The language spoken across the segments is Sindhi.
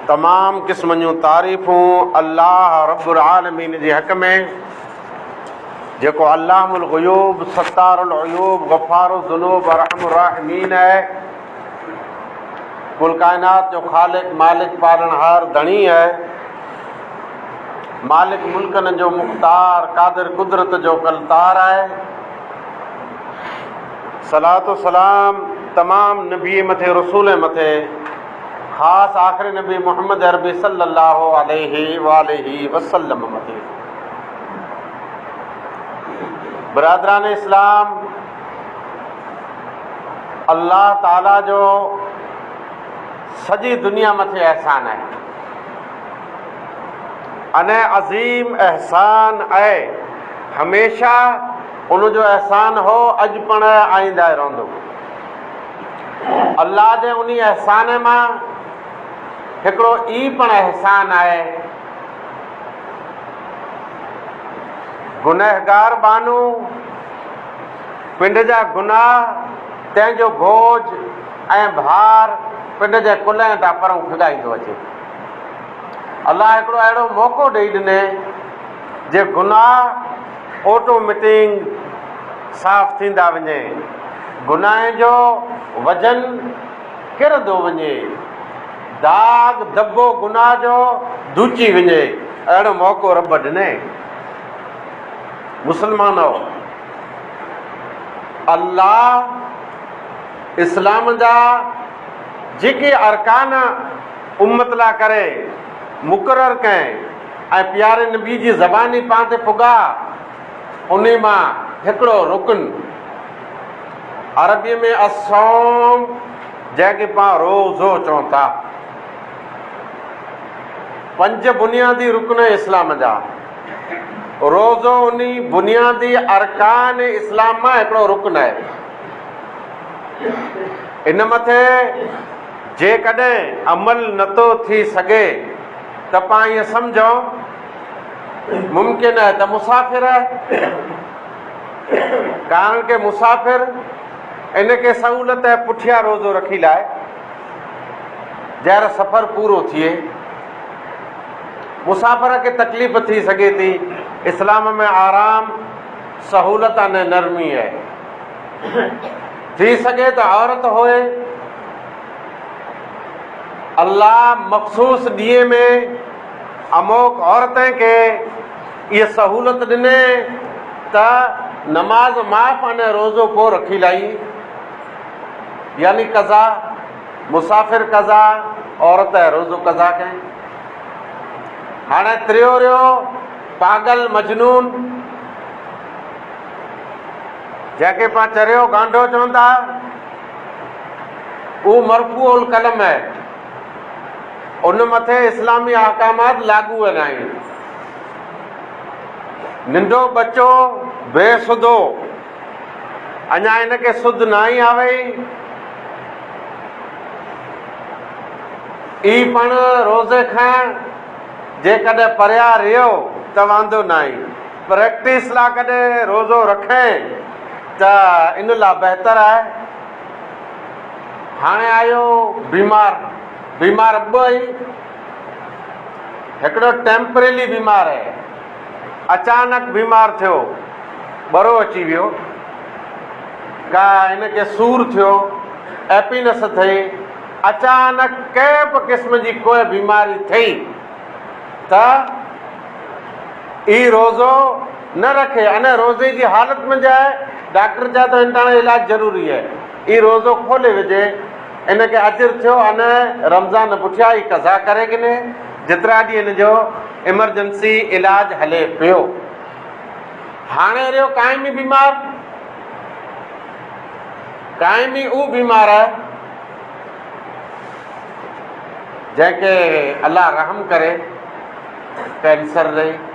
تمام قسمن جون تعريفون الله رب العالمين جي حق ۾ جيڪو علام الغيوب ستار العيوب غفار الذنوب ارحم الراحمين آهي کل کائنات جو خالق مالڪ پالڻ هار ڌڻي آهي مالڪ ملڪن جو مختار قادر قدرت جو ڪلتار آهي صلات و سلام تمام نبيء مٿي رسولين مٿي خاص آخري نبي محمد عربي صلي الله عليه واٰله وسلم مٿي برادران اسلام الله تعالي جو سڄي دنيا مٿي احسان آهي انهي عظيم احسان آهي هميشه ان جو احسان هو اڄ پڻ آئينده رهندو. الله جي انهي احسان مان هڪڙو ئي پڻ احسان آهي گنهگار ٻانهو پنڊ جا گناهه تنهن جو بوجھ ۽ ڀار پنڊ جي ڪلهين تان پرئون کڳائيندو اچي. الله هڪڙو اهڙو موقعو ڏئي ڏني جي گناهه اوٽو مٽينگ صاف ٿيندا وڃي گناهه جو وزن ڪرندو وڃي داغ دٻو گناهه جو ڌوچي وڃي اهڙو موقعو رب ڏنئي مسلمانو الله اسلام جا جيڪي ارڪان امت لا ڪري مقرر ڪئين ۽ پياري نبي جي زبان ئي پاڻ تي پڳاء، انهي مان هڪڙو رڪن، عربيء ۾ الصوم، جنهن کي پاڻ روزو چون ٿا. پنج بنيادي رڪن اسلام جا روزو انهي بنيادي ارڪان اسلام مان هڪڙو رڪن آهي. ان مٿي جيڪڏهن عمل نٿو ٿي سگهي، تپان ائين سمجهون ممڪن آهي ته مسافر آهي، ڪارڻ ڪي مسافر ان ڪي سهولت ۽ پٺيان روزو رکي لاء جهر سفر پورو ٿئي. مسافر کي تڪليف ٿي سگهي ٿي. اسلام ۾ آرام، سهولت ان نرمي آهي. ٿي سگهي ته عورت هئي. الله مخصوص ڏينهن ۾ اموڪ عورتين کي اهي سهولت ڏني ته نماز معاف ۽ روزو ڪو رکي لائي يعني قضا مسافر قضا عورت ۽ روزو قضا ڪئين هاڻي تريو ريو پاڳل مجنون جنهن کي پان چريو گانڊو چون ٿا اهو مرفوع القلم آهي. ان مٿي اسلامي احڪامات لاڳو آهن. آهن. ننڍو ٻچو بي سڌو اڃا ان کي سڌ ناهي آوي اي پڻ روزي کان جيڪڏهن پريا رهيو ته واندو ناهي. پريڪٽس لا ڪڏهن روزو رکين. ته ان لا بهتر آهي. هاڻي آيو بيمار، بيمار ٻه آهن، هڪڙو ٽيمپريلي بيمار آهي، اچانڪ بيمار ٿيو، ٻرو اچي ويو، ڪا هن کي سور ٿيو، ايپينس ٿئي، اچانڪ ڪنهن به قسم جي ڪوئي بيماري ٿئي ته اي روزو، نه رکي ان روزي جي حالت ۾ جاء ڊاڪٽر چاهي ٿو هنتاڻو علاج ضروري هي اي روزو کولي وجهي ان کي اجر ٿيو ان رمضان پٺيان ئي قضا ڪري گني جيترا ڏينهن ان جو ايمرجنسي علاج هلي پيو هاڻي رهيو قائمي بيمار قائمي او بيمار آهي جنهن کي الله رحم ڪري ڪينسر رهي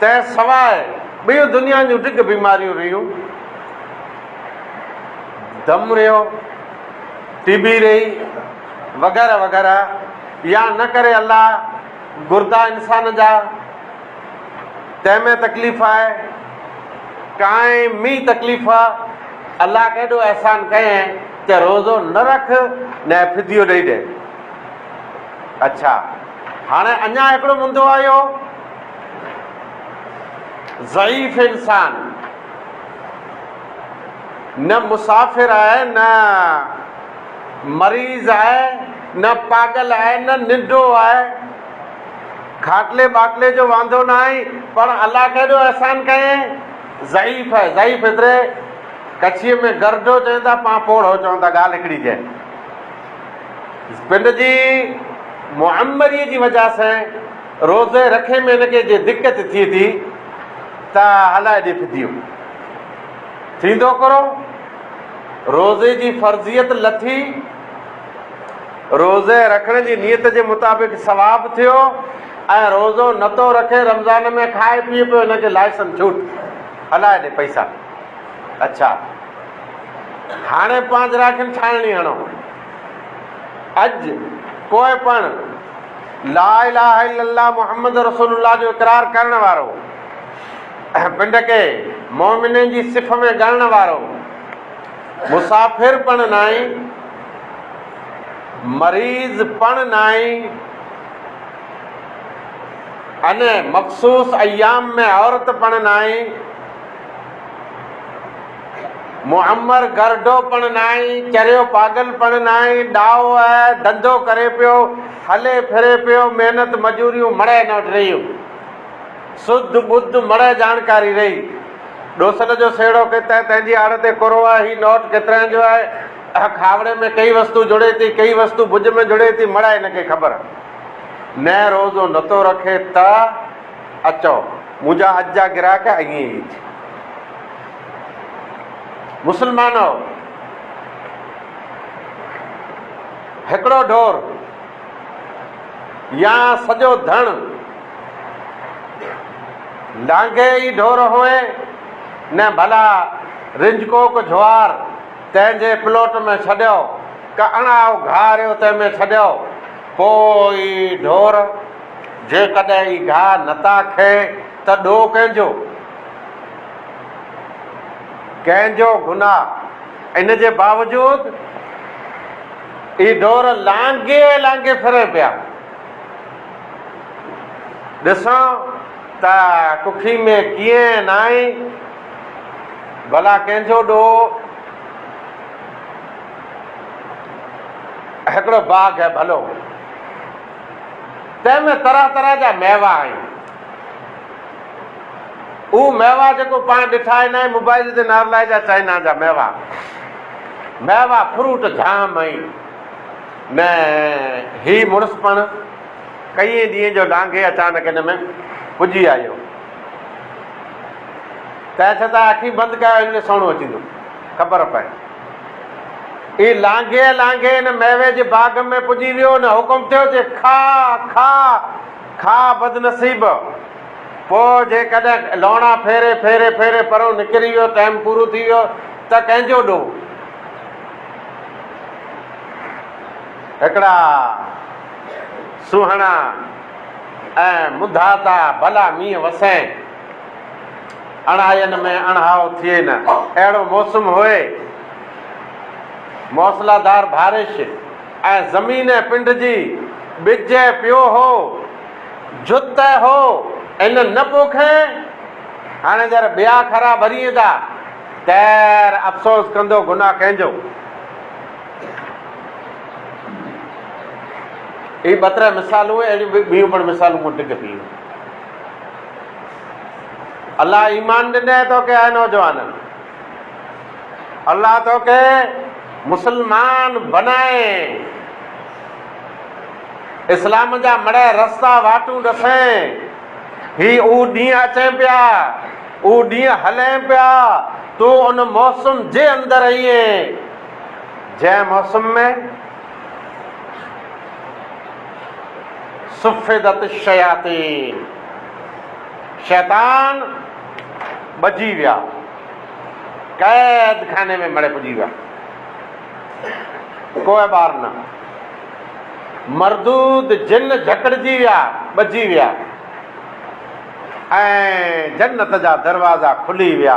تنهن سواء ٻيون دنيا جون ڊگهه بيماريون رهيون، دم رهيو، ٽي بي رهي وغيره وغيره يا نه ڪري الله گردا انسان جا تنهن ۾ تڪليف آهي، قائمي تڪليف الله ڪيڏو احسان ڪيئن ته روزو نه رک نه فديو ڏئي ڏي. اڇا هاڻي اڃا هڪڙو مندو آيو. ضعيف انسان نه مسافر آهي نه مريض آهي نه پاڳل آهي نه ننڊو آهي کاٽلي ٻاٽلي جو واندو نه آهي پر الله ڪيڏو احسان ڪيئي ضعيف آهي ضعيف هيتري ڪڇيء ۾ گرڊو چون ٿا پان پوڙهو چون ٿا ڳالهه هڪڙي جي پنڊ جي معمريء جي وجه سان روزي رکي ۾ هن کي جي دقت ٿئي ٿي ته هلائي ڏي فديو. ٿيندو ڪرو. روزي جي فرضيت لٿي. روزي رکڻ جي نيت جي مطابق ثواب ٿيو ۽ روزو نتو رکي رمضان ۾ کائي پيئي پيو هن کي لائسن ڇوٽ. هلائي ڏي پئسا. اڇا هاڻي پانجراکين ڇاڻڻي هڻو. اڄ ڪوء پڻ لا اله الا الله محمد رسول الله جو اقرار ڪرڻ وارو، پنڊ کي مؤمنين جي صف ۾ ڳڻڻ وارو، مسافر پڻ ناهي، مريض پڻ ناهي، ان مخصوص ايام ۾ عورت پڻ ناهي، معمر گرڊو پڻ ناهي، چريو پاڳل پڻ ناهي، ڏاهو اهي ڌنڌو ڪري پيو، هلي ڦري پيو، محنت مزوريون مڙهه نه وٽ رهيون. سڌ ٻڌ مڙهه جاڻڪاري رهي. ڏوسل جو سهيڙو ڪي تنهن تنهن جي آڙ تي ڪورو آهي، هي نوٽ ڪيترائين جو آهي، کاوڙي ۾ ڪهي وستو جڙي ٿي، ڪهي وستو ڀڄ ۾ جڙي ٿي، مڙهه هن کي خبر. نئه روزو نتو رکي ته. اچو منهنجا اڄ جا گراهڪ ائين ئي مسلمانؤ هڪڙو ڍور يا سڄو ڌڻ لانگهي ئي ڍور هوئي نه ڀلا رنجڪوڪ جهوار تنهن جي پلوٽ ۾ ڇڏيو ڪا اڻائو گهاريو تنهن ۾ ڇڏيو پوء ئي ڍور جيڪڏهن ئي گاهه نتا کئي ته ڏوهه ڪنهن جو؟ ڪنهن جو گناهه؟ ان جي باوجود ئي ڍور لانگهي لانگهي ڦرن پيا. ڏسون ته ڪکي ۾ ڪيئن ناهين، ڀلا ڪنهن جو ڏوهه؟ هڪڙو باگهه ڀلو. تنهن ۾ طرح طرح جا ميوا آهن. اهو ميوا جيڪو پاڻ ڏٺا آهي ناهي موبائيل تي نارلائي جا چائنا جا ميوا ميوا فروٽ جام آهن نه هي مڙس پڻ ڪئين ڏينهن جو لانگهي اچانڪ هن ۾ پڄي آيو تنهن ڇتان اکيون بند ڪيو هن ۾ سهڻو اچيندو خبر پئي. هي لانگهي لانگهي ان ميوي جي باغ ۾ پڄي ويو ان حڪم ٿيو چي کاء کاء کاء بدنصيب پوء جيڪڏهن لوڻا ڦيري ڦيري ڦيري پرون نڪري ويو ٽائيم پورو ٿي ويو ته ڪنهن جو ڏوهه هڪڙا سونهڻا ۽ منڌاتا ڀلا مينهن وسين. اڻهائين ۾ اڻهائو ٿئي نه اهڙو موسم هئي. موصلادار بارش ۽ زمين پنڊجي ٻج پيو هو. جت هو ان نه پوکين. هاڻي جر ٻيا کرا ڀرين ٿا. تير افسوس ڪندو گناهه ڪنهن جو. هي ٻه تري مثالون اهڙيون ٻيون پڻ مثالون مون ڊگهه پيون. الله ايمان ڏنئي توکي اي نوجوان! الله توکي مسلمان بنائي اسلام جا مڙهه رستا واٽون ڏسين. هي اهو ڏينهن اچين پيا، اهو ڏينهن هلين پيا، تون ان موسم جي اندر هئين جنهن موسم ۾. صفدت الشياطين شيطان ٻجي ويا قيد خاني ۾ مڙي پڄي ويا کوئي ٻار نه مردود جن جھڪڙجي ويا ٻجي ويا ۽ جنت جا دروازا کلي ويا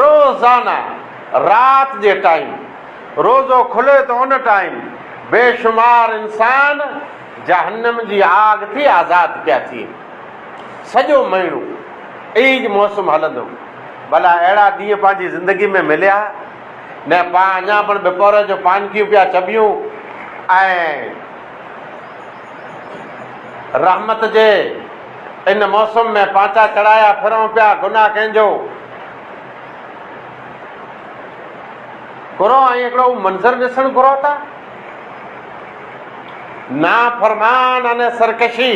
روزانه رات جي ٽائيم روزو کلي ته ان ٽائيم بيشمار انسان جهنم جي آگ ٿي آزاد پيا ٿين. سڄو مهينو عيد موسم هلندو. ڀلا اهڙا ڏينهن پنهنجي زندگي ۾ مليا؟ نه پاڻ اڃا پڻ بپورهه جو پانڪيون پيا چٻيون ۽ رحمت جي ان موسم ۾ پانچا چڙهايا ڦرون پيا، گناهه ڪنهن جو؟ گهرو ۽ هڪڙو هو منظر ڏسڻ گهرو ٿا؟ نافرمان ۽ سرڪشي،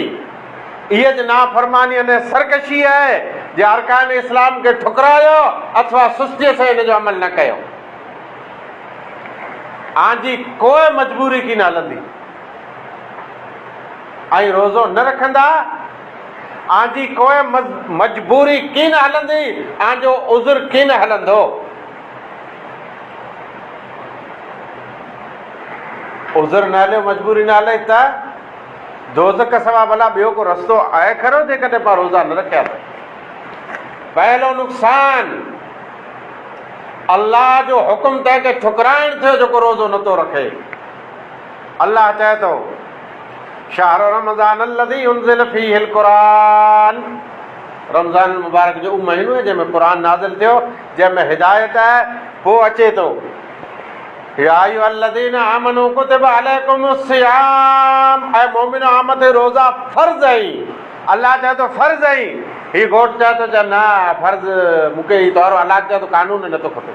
اهي جي نافرماني ۽ سرڪشي آهي جي ارڪان اسلام کي ٺڪرايو اٿوا سستيء سين ان جو عمل نه ڪيو. آنجي ڪوئي مجبوري ڪين هلندي. ۽ روزو نه رکندا، اوهان جي ڪوئي مجبوري ڪين هلندي، اوهان جو عذر ڪين هلندو. عذر نه هليو، مجبوري نه هلئي ته دوزخ سوا ڀلا ٻيو ڪو رستو آهي کرو، جيڪڏهن اوهان روزا نه رکيا ته پهلو نقصان الله جو حڪم تنهن کي ٺڪرائڻ ٿيو جيڪو روزو نٿو رکي. الله چئي ٿو، شهر رمضان الذي انزل فيه القرآن رمضان المبارڪ جو اهو مهينو آهي جنهن ۾ قرآن نازل ٿيو جنهن ۾ هدايت آهي پوء اچي ٿو يا ايها الذين آمنوا ڪتب عليكم الصيام اي مؤمنو اوهان مٿي روزا فرض آهن الله چئي ٿو فرض آهن هي گهوٽ چئي ٿو چئه نه فرض مون کي هي طور الله چئي ٿو قانون نه ٿو کپي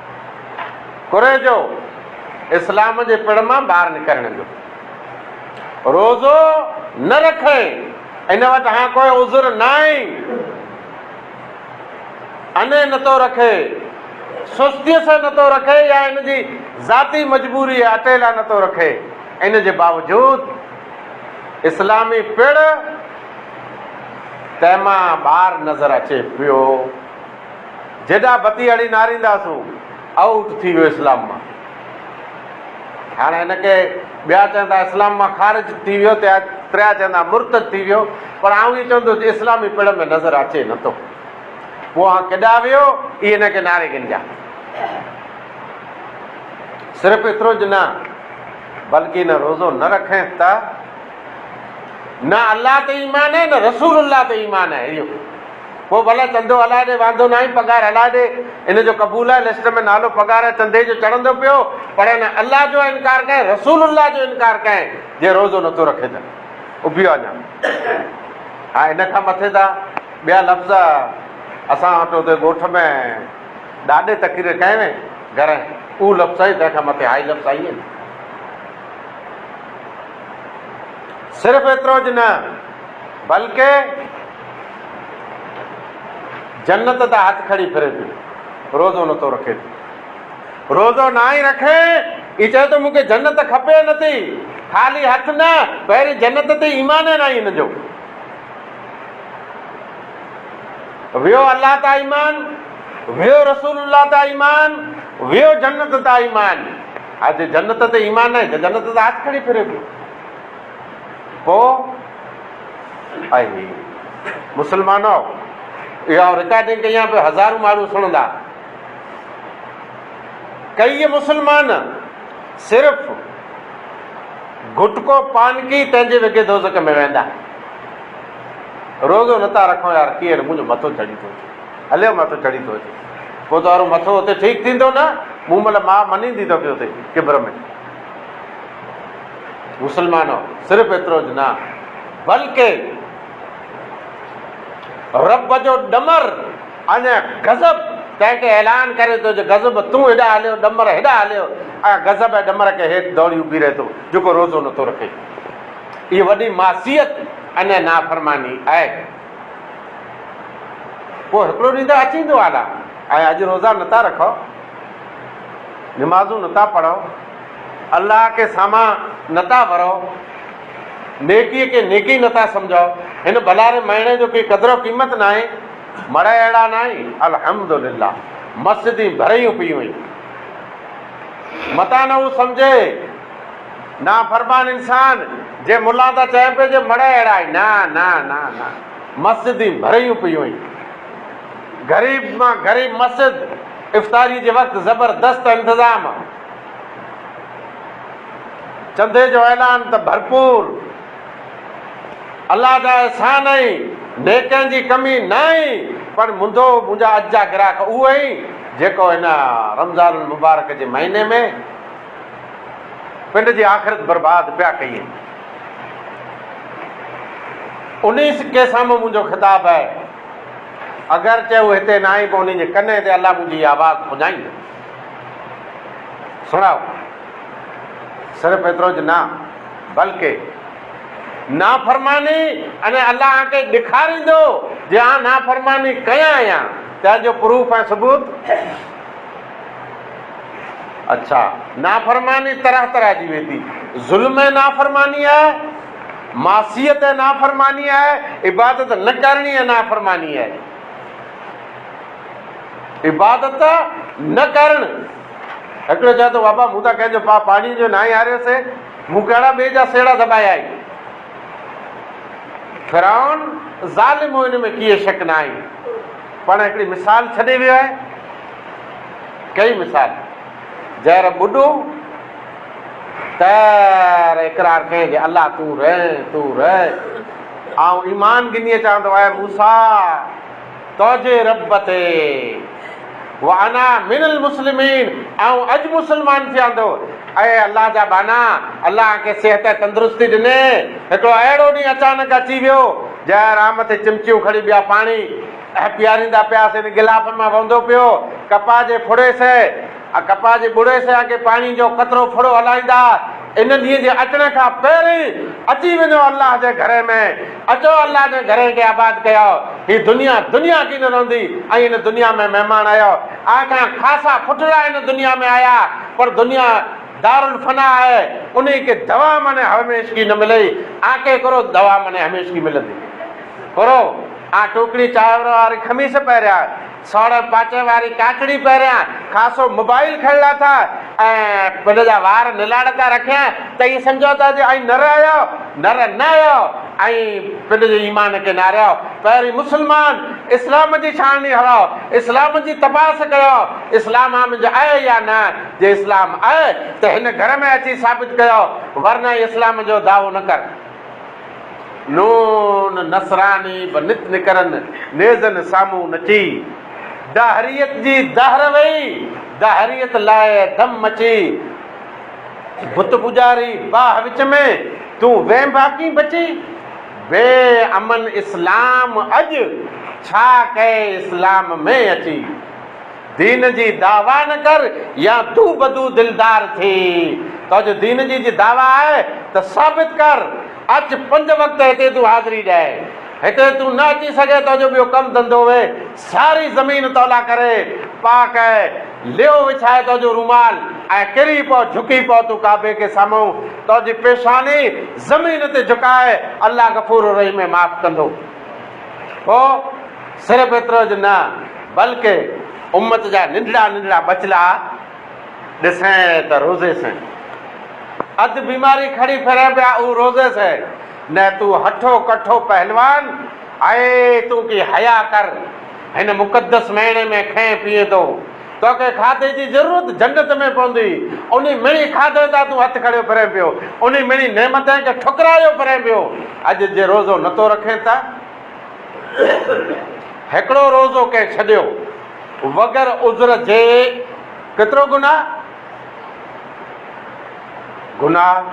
ڪريجو اسلام جي پڙ مان ٻاهر نڪرڻ جو روزو نه رکين ان وٽ هان ڪوئي عذر ناهي اني نتو رکي سستي سان نتو رکي يا ان جي ذاتي مجبوري اٽيلا نتو رکي ان جي باوجود اسلامي پڙ تنهن مان ٻاهر نظر اچي پيو جيڏا بتي هڻي ناريندا سون آئوٽ ٿي ويو اسلام مان. هاڻ هن کي ٻيا چوندا اسلام مان خارج ٿي ويو ته تريا چوندا مرتد ٿي ويو پر آئون ائين چوندس جو اسلامي پڙ ۾ نظر اچي نه ٿو پوء هان ڪيڏا ويو اي هن کي ناري گنجا. صرف ايترو ج نه بلڪ هن روزو نه رکين ته نه الله تي ايمان هي نه رسول الله تي ايمان هي اهو پوء ڀلا چندو هلائي ڏي واندو ناهي پگهار هلائي ڏي ان جو قبول آهي لسٽ ۾ نالو پگهار ۽ چندي جو چڙهندو پيو پر هن الله جو انڪار ڪيائين رسول الله جو انڪار ڪيائين جي روزو نٿو رکي ته اڀيو اڃا هاڻ ان کان مٿي ته ٻيا لفظ اسان وٽ اتي ڳوٺ ۾ ڏاڏي تقرير ڪئي وئي گهر اهو لفظ سائين تنهن کان مٿي هائي لفظ آئي آهن صرف ايترو ج نه بلڪه جنت تان هٿ کڻي ڦري ٿي، روزو نٿو رکي ٿي. روزو ناهي رکي، هي چئي ٿو مون کي جنت کپي نٿي، خالي هٿ نه، پهرين جنت تي ايمان ئي ناهي هن جو. ويو الله تان ايمان، ويو رسول الله تان ايمان، ويو جنت تان ايمان. هاڻ جي جنت تي ايمان ناهي، جنت تان هٿ کڻي ڦري پيو. ڪو اهي مسلمانو اها آئون رڪارڊنگ ڪئي آهي هزارون ماڻهو سڻندا ڪيئي مسلمان صرف گٽڪو پانڪي پنهنجي وگي دوزڪ ۾ ويندا روزو نٿا رکو يار ڪيئي منهنجو مٿو چڙي ٿو اچي هليو مٿو چڙي ٿو اچي پوء تو وارو مٿو اتي ٺيڪ ٿيندو نه مون مل ماء منيندي تو کي اتي ڪبر ۾ مسلمانو! صرف ايترو ئي نه بلڪ رب جو ڏمر ۽ غضب تنهن کي اعلان ڪري ٿو جو غضب تون هيڏانهن هليو ڏمر هيڏانهن هليو ۽ غضب ۽ ڏمر کي هيٺ دوڙي اڀي رهي ٿو جيڪو روزو نٿو رکي. اهي وڏي معصيت ۽ نافرماني آهي. پوء هڪڙو ڏينهن ته اچي ايندو آلا ۽ اڄ روزا نٿا رکو نمازون نٿا پڙهو. الله کي سامان نه ٿا ورئو، نيڪيء کي نيڪي نه ٿا سمجهئو، هن ڀلاري مهڻي جو ڪي قدر و قيمت ناهي، مڙهه اهڙا ناهي، الحمد لله، مسجدين ڀريون پيون هين، متان نه هو سمجهي، نافرمان انسان، جي ملان ٿا چين پي جي مڙهه اهڙا هين، نه نه نه نه، مسجدين ڀريون پيون هين، غريب مان غريب مسجد، افطاريء جي وقت زبردست انتظام، چندي جو اعلان ته ڀرپور الله جا احسان ۽ نيڪين جي ڪمي نه آهي پر منڌو منهنجا اڄ جا گراهڪ اهو آهي جيڪو هن رمضان المبارڪ جي مهيني ۾ پنڊ جي آخرت برباد پيا ڪيئي انهي سڪي سامهون منهنجو خطاب آهي اگرچه هو هتي نه آهي پر انهي جي ڪنين تي الله منهنجي آواز پڄائيندو سڻائو. صرف ايتروج نه بلڪه نافرماني ۽ الله آنکي ڏيکاريندو جي آن نافرماني ڪيان آهيان تنهن جو پروف ۽ ثبوت اڇا نافرماني طرح طرح جي ويندي ظلم ۽ نافرماني آهي معصيت ۽ نافرماني آهي عبادت نه ڪرڻي ۽ نافرماني آهي. عبادت نه ڪرڻ. هڪڙو چوي ٿو بابا مون ته ڪنهن جو پاء پاڙيء جو ناهي هاريو سي، مون ڪهڙا ٻئي جا سيڙا دٻايا آهن. فرعون ظالم هو ان ۾ ڪيئي شڪ ناهي پڻ هڪڙي مثال ڇڏي ويو آهي. ڪهڙي مثال؟ جهر ٻڏو تر اقرار ڪئين جي الله تون رهين تون رهين آئون ايمان ڳنيئي چوان ٿو اي موسيٰ تنهنجي رب تي وانا من المسلمين آئون اڄ مسلمان ٿيان ٿو. اي الله جا ٻانها! الله آن کي صحت ۽ تندرستي ڏني. هڪڙو اهڙو ڏينهن اچانڪ اچي ويو، جنهن را مٿي چمچيون کڻي ٻيا پاڻي پياريندا پيا سين گلافن مان وهندو پيو، ڪپاهه جي ڦڙي سهي، آء ڪپاهه جي ٻڙي سيا کي پاڻي جو قطرو ڦڙو هلائيندا ان ڏينهن جي اچڻ کان پهرين اچي وڃو الله جي گهري ۾ اچو الله جي گهري کي آباد ڪيو هي دنيا دنيا ڪين رهندي ۽ ان دنيا ۾ مهمان آهيو آء کان خاصا ڦٽڙا ان دنيا ۾ آيا پر دنيا دار الفنا آهي انهي کي دوا معني هوميشگي نه ملئي آء کي ڪرو دوا معني هميشگي ملندي ڪرو آء ٽوڪڙي چانور واري خميس پهريا سوڙهه پاچي واري ڪاڪڙي پهريان خاصو موبائيل کڻ لاٿا ۽ هن جا وار نلاڙ تان رکيائين ته ائين سمجهيو ته اڄ آئين نر آهيو، نر نه آهيو ۽ پنهنجي جي ايمان کي نهاريائو. پهرين مسلمان اسلام جي ڇاڻڻي هڻائو، اسلام جي تپاس ڪيائو، اسلام آمنج آهي يا نه، جي اسلام آهي ته هن گهر ۾ اچي ثابت ڪيائو ورنه اسلام جو دعوو نه ڪر. نون نصراني به نت نڪرن نيزن سامهون نچي. دهريت جي دهر وئي، دهريت لاء ڌم مچي. بت پوڄاري باهه وچ ۾، تون وينڀا ڪين بچي. بي امن اسلام اڄ، ڇا ڪئي اسلام ۾ اچي. دين جي دعويٰ نه ڪر يا دو بدو دلدار ٿي. توجو دين جي جي دعويٰ آهي ته ثابت ڪر. اچ پنج وقت هتي تون حاضري ڏي. هتي تون نه اچي سگهين توجو ٻيو ڪم ڌنڌو وي. ساري زمين تولاء ڪري پاڪ اي. ليئو وڇائي توجو رومال ۽ ڪري پؤ جهڪي پؤ تون ڪعبي کي سامهون توجي پيشاني زمين تي جهڪاء الله غفور الرحيم اي معاف ڪندو. پوء صرف ايتروج نه بلڪ امت جا ننڍڙا ننڍڙا ٻچلا ڏسين ته روزي سين اڌ بيماري کڻي ڦرين پيا اهو روزي سين نه تون هٺو ڪٺو پهلوان آهي تون ڪي حيا ڪر هن مقدس مهيني ۾ کين پيئين ٿو توکي کاڌي جي ضرورت جنت ۾ پوندي انهي مڙي کاڌي تان تون هٿ کڻيو ڦرين پيو انهي مڙي نعمتين کي ٺڪرايو ڦرين پيو اڄ جي روزو نٿو رکين ته هڪڙو روزو ڪنهن ڇڏيو وگر عذر جي ڪيترو گناهه؟ گناهه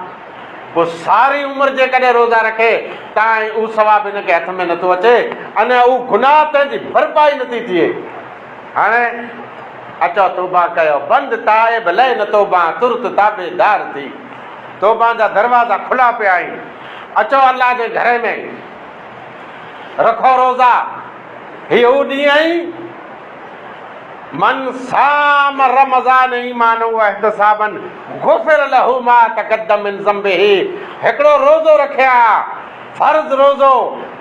پوء ساري عمر جيڪڏهن روزا رکي تائين اهو ثواب هن کي هٿ ۾ نٿو اچي ان اهو گناهه تنهن جي ڀرپائي نٿي ٿئي هاڻي اچو توبه ڪيو بند تائب لئه نه توبه ترت تابعدار ٿي توبه جا دروازا کلا پيا آهن اچو الله جي گهر ۾ رکو روزا، هي هو ڏينهن آهي، من صام رمضان ايمانا واحتسابا غفر له ما تقدم من ذنبه، هڪڙو روزو رکي ها، فرض روزو،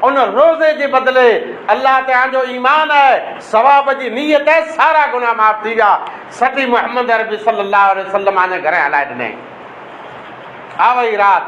ان روزي جي بدلي الله تي آنجو ايمان ۽ ثواب جي نيت ۽ سارا گناهه معاف ٿي ويا، سٽي محمد عربي صلي الله عليه وسلم آنجي گهرين هلائي ڏنائين. آوئي رات.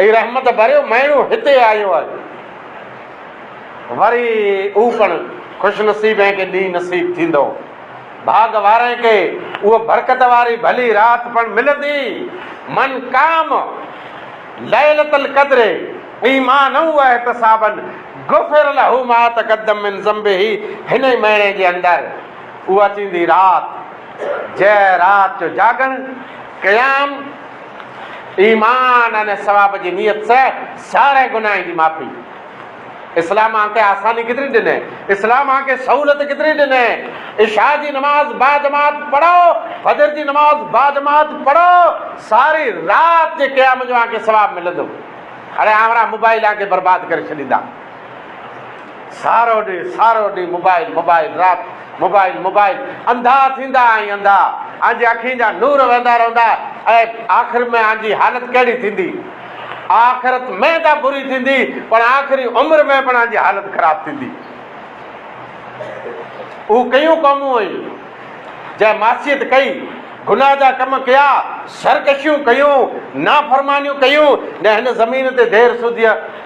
هي رحمت ڀريو مهيڻو هتي آيو آهي. وري اهو پڻ خوش نصيبين کي ڏينهن نصيب ٿيندو. ڀاڳ وارين کي اها برڪت واري ڀلي رات پڻ ملندي. من قام ليلة القدر ايمانا واحتسابا غفر له ما تقدم من ذنبه هن ئي مهيني جي اندر اها ٿيندي رات جنهن رات جو جاڳڻ، قيام، ايمان ۽ ثواب جي نيت سئه سارين گناهن جي معافي. اسلام اهان کي آساني ڪيتري ڏني؟ اسلام اهان کي سهولت ڪيتري ڏني؟ عشاء جي نماز باجماعت پڙهو، فجر جي نماز باجماعت پڙهو، ساري رات جي قيام جو اهان کي ثواب ملندو. اڙي آنورا موبائل اهان کي برباد ڪري ڇڏيندا. سارو ڏينهن سارو ڏينهن موبائل موبائل رات موبائل موبائل انڌا ٿيندا ۽ انڌا اهنجي اکين جا نور وهندا رهندا اهي آخر ۾ اهنجي حالت ڪهڙي ٿيندي آخرت ۾ ته بري ٿيندي پڻ آخري عمر ۾ پڻ اهنجي حالت خراب ٿيندي اهو ڪيون قومون هيون جنهن معصيت ڪئي گناهه جا ڪم ڪيا سرڪشيون ڪيون نافرمانيون ڪيون نه هن زمين تي دير سوڌيء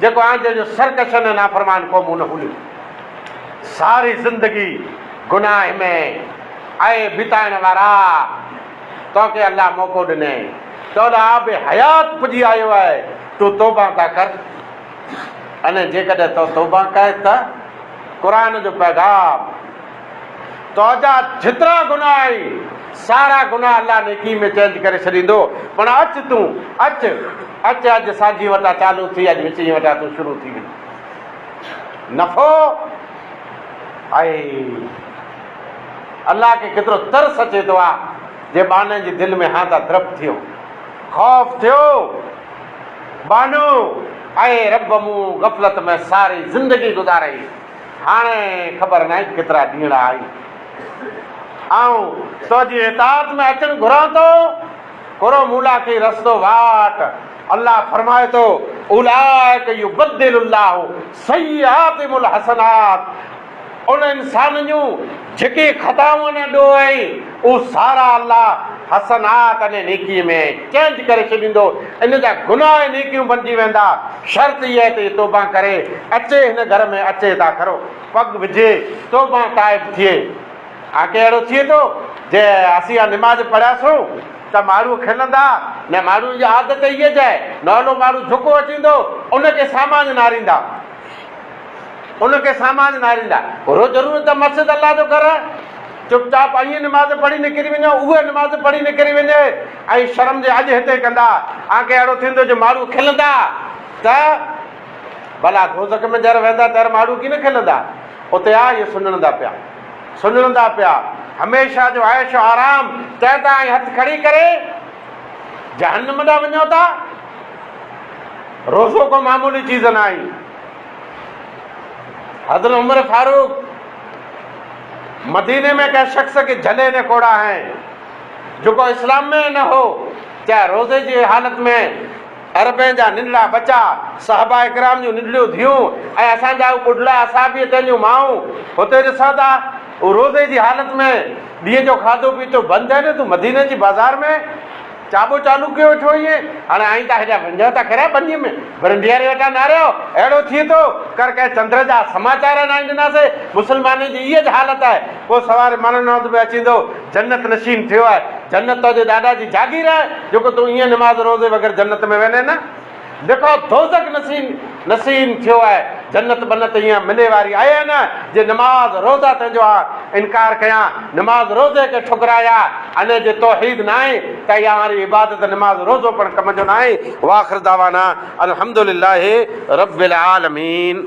جيڪو آنڌيء جو سرڪش ۽ نافرمان قومون نه هونديون ساري زندگي گناهه ۾ اي بتائڻ وارا توکي الله موقعو ڏنئي تولئ آب حيات پڄي آيو آهي تون توبه ته ڪر ۽ جيڪڏهن تو توبه ڪئين ته قرآن جو پيغام تنهنجا جيترا گناهه آهن، سارا گناهه الله نيڪي ۾ چينج ڪري ڇڏيندو. پڻ اچ تون، اچ، اچ اڄ سانجهيء وٽان چالو ٿي، اڄ وچينء وٽان تون شروع ٿي وڃ. نفعو آهي. الله کي ڪيترو ترس اچي ٿو آ جي ٻانهن جي دل ۾ هانڌا ڌرپ ٿيو، خوف ٿيو. ٻانهو، اي رب مون غفلت ۾ ساري زندگي گذارئي. هاڻي خبر ناهي ڪيترا ڏينهڙا آهي آئون تنهنجي اطاعت ۾ اچڻ گهران ٿو. ڪرو مون لاء ڪي رستو واٽ. الله فرمائي ٿو، اولئک يبدل الله سيئاتهم الحسنات، انهن انسانن جون جيڪي خطائون اڃا ڏوهه ۽. او سارا الله حسنات يعني نيڪي ۾ چينج ڪري ڇڏيندو ان جا گناهه ۽ نيڪيون بنجي ويندا شرط اها آهي ته هي توبه ڪري اچي هن گهر ۾ اچي ته آخر پڳ وجهي توبه تائب ٿئي ها ڪي اهڙو ٿئي ٿو جي اسين اها نماز پڙهياسون ته ماڻهو کلندا نه ماڻهن جي عادت اهي جي نولو ماڻهو جهڪو اچيندو ان کي سامان ناريندا ان کي سامان ناريندا اهو ضرور ته مسجد الله جو گهر چپ چاپ ائين نماز پڙهي نڪري وڃو، اهي نماز پڙهي نڪري وڃي ۽ شرم جي اڄ هتي ڪندا، آگي اهڙو ٿيندو جو ماڙهو کلندا ته ڀلا دوزخ ۾ جر ويندا تر ماڙهو ڪين کلندا، اتي آ اهي سڃڻندا پيا، سڃڻندا پيا هميشه جو عيش و آرام تنهن تان ائين هٿ کڙي ڪري جهنم ڏانهن وڃو ٿا. روزو ڪو معمولي چيز ناهي. حضرت عمر فاروق مديني ۾ ڪنهن شخص کي جهلي نه کوڙاهين، جيڪو اسلام ۾ ئي نه هو، چاهي روزي جي حالت ۾ عربين جا ننڍڙا ٻچا، صحابه ڪرام جون ننڍڙيون ڌيئون ۽ اسان جا اهي ٻڍڙا اصحابي تن جون مائون هتي ڏسو ٿا، هو روزي جي حالت ۾ ڏينهن جو کاڌو پيتو بند آهن، تون مديني جي بازار ۾. چاٻو چالو ڪيو ويٺو هئين، هاڻي آئين تان هيڏانهن ونجهان ته کريا ٻنيء ۾، برنڊياري وٽان ناريو، اهڙو ٿئي ٿو، ڪر ڪنهن چندر جا سماچار انائين ڏناسي، مسلمانن جي ايئن حالت آهي، ڪو سواري ماڻهن هنڌ به اچيندو، جنت نشين ٿيو آهي، جنت تنهنجي ڏاڏا جي جاگير آهي، جيڪو تون ايئن نماز روزي بغير جنت ۾ ويندين. جيڪو دوزخ نشين نشين ٿيو آهي جنت بنت ايئن ملي واري آهي نه جي نماز روزا تنهنجو آ انڪار ڪيان نماز روزي کي ٺڪرايا انهي جي توحيد ناهي ته اها واري عبادت نماز روزو پڻ ڪم جو ناهي واخر دعوانا الحمد لله رب العالمين.